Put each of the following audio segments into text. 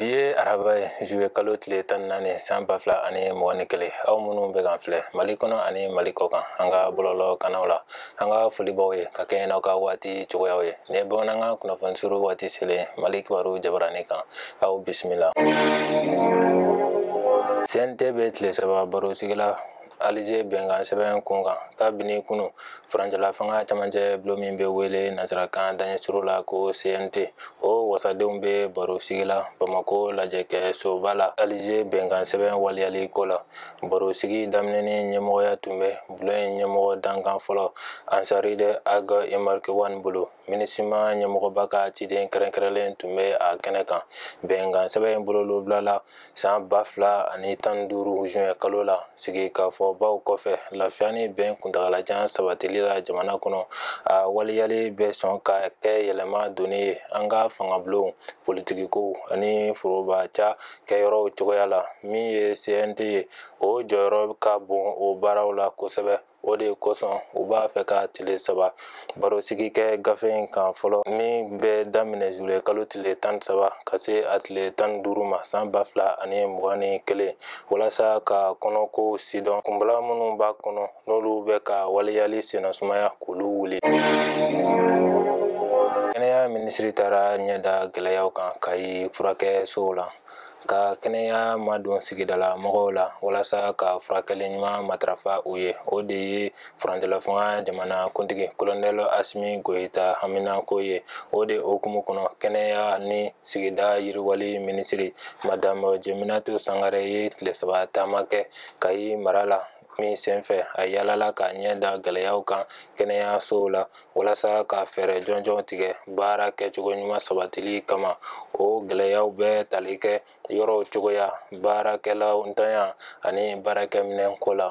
bi ye araba ye zuye kalo tile tan ni naani san ba fila ani mugan ni kelen aw minnu bɛ k'an filɛ mali kɔnɔ ani mali kɔkan an ka bɔlɔlɔ kanaw la an ka foli b'aw ye ka kɛɲɛ n'aw ka waati cogoyaw ye nin ye bamanankan kunnafoni surun waati selen mali kibaru jabaranin kan aw bisimila cnt bɛ tile saba baro sigi la alize bɛnkan sɛbɛn kun kan kabini kunu furancɛla fanga camancɛ bulo min bɛ wele nansarakan daɲɛ surun la ko cnt o wasadenw bɛ baro sigi la bamako lajɛkɛsoba la alize bɛnkan sɛbɛn waleyali ko la baro sigi daminɛni ɲɛmɔgɔya tun bɛ bulo in ɲɛmɔgɔ dankan fɔlɔ asarid ag imbarkawan bolo minusima ɲɛmɔgɔba ka ciden kɛrɛnkɛrɛnlen tun bɛ a kɛnɛ kan bɛnkan sɛbɛn in bolonɔ bilala san ba fila ani tan duuru zuwɛn kalo la sigikafɔbaw kɔfɛ lafiya ni bɛn kuntagalajan sabatili la jamana kɔnɔ a waleyali bɛ sɔn ka kɛ yɛlɛma donni ye an ka fangabulonw politikikow ani foroba cakɛyɔrɔw cogoya la min ye cnt ye o jɔyɔrɔ ka bon o baaraw la kosɛbɛ o de kosɔn u b'a fɛ ka tile saba barosigi kɛ gafe in kan fɔlɔ min bɛ daminɛ zule kalo tile tan saba ka se a tile tan duuru ma san ba fila ani mugan ni kelen walasa k'a kɔnɔkow sidɔn kunbalan minnu b'a kɔnɔ n'olu bɛ k'a waleyali sennasumaya k'olu wuli kɛnɛya minisiri taara a ɲɛ da gɛlɛyaw kan kayi furakɛsow la ka kɛnɛya madon sigidala mɔgɔw la walasa ka furakɛli ɲuman matarafa u ye o de ye furancɛla fanga jamana kuntigi kolonɛl asimi goyita haminako ye o de hukumu kɔnɔ kɛnɛya ni sigida yiriwali minisiri madamu jeminatu sangare ye tile saba taama kɛ kayi mara la min senfɛ a yalala k'a ɲɛ da gɛlɛyaw kan kɛnɛyasow la walasa ka fɛɛrɛ jɔnjɔn tigɛ baara kɛcogo ɲuman sabatili kama o gɛlɛyaw bɛ tali kɛ yɔrɔw cogoya baarakɛlaw ntanya ani baarakɛminɛnko la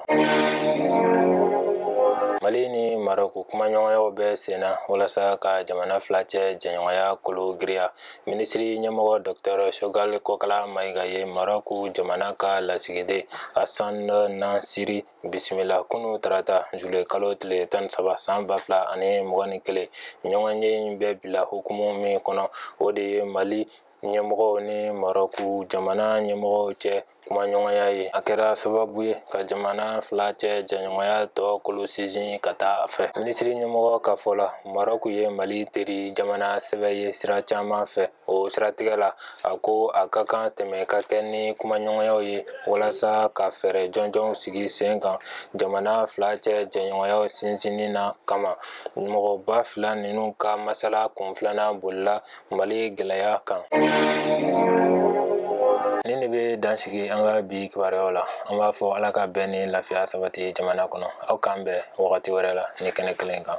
mali ni marɔku kumaɲɔgɔnyaw bɛ senna walasa ka jamana fila cɛ jɛɲɔgɔnya kolo girinya minisiri ɲɛmɔgɔ dɔktɛr sogɛli kokala mayiga ye marɔku jamana ka lasigiden asan nasiri bisimila kunu tarata zule kalo tile tan saba san ba fila ani mugan ni kelen ɲɔgɔnye in bɛ bila hukumu min kɔnɔ o de ye mali ɲɛmɔgɔw ni marɔku jamana ɲɛmɔgɔw cɛ kumaɲɔgɔnya ye a kɛra sababu ye ka jamana fila cɛ jɛɲɔgɔnya tɔ kolo sinsin ka taa a fɛ minisiri ɲɛmɔgɔ ka fɔ la marɔku ye mali teri jamana sɛbɛ ye sira caman fɛ o siratigɛ la a ko a ka kan tɛmɛ ka kɛ ni kumaɲɔgɔnyaw ye walasa ka fɛɛrɛ jɔnjɔnw sigi sen kan jamana fila cɛ jɛɲɔgɔnyaw sinsinni na kama mɔgɔba fila ninnu ka masala kun filanan bolila mali gɛlɛya kan nin de bɛ dansigi an ka bi kibaruyaw la an b'a fɔ ala ka bɛn ni lafiya sabati jamana kɔnɔ aw k'an bɛn wagati wɛrɛ la ni kɛnɛ kelen kan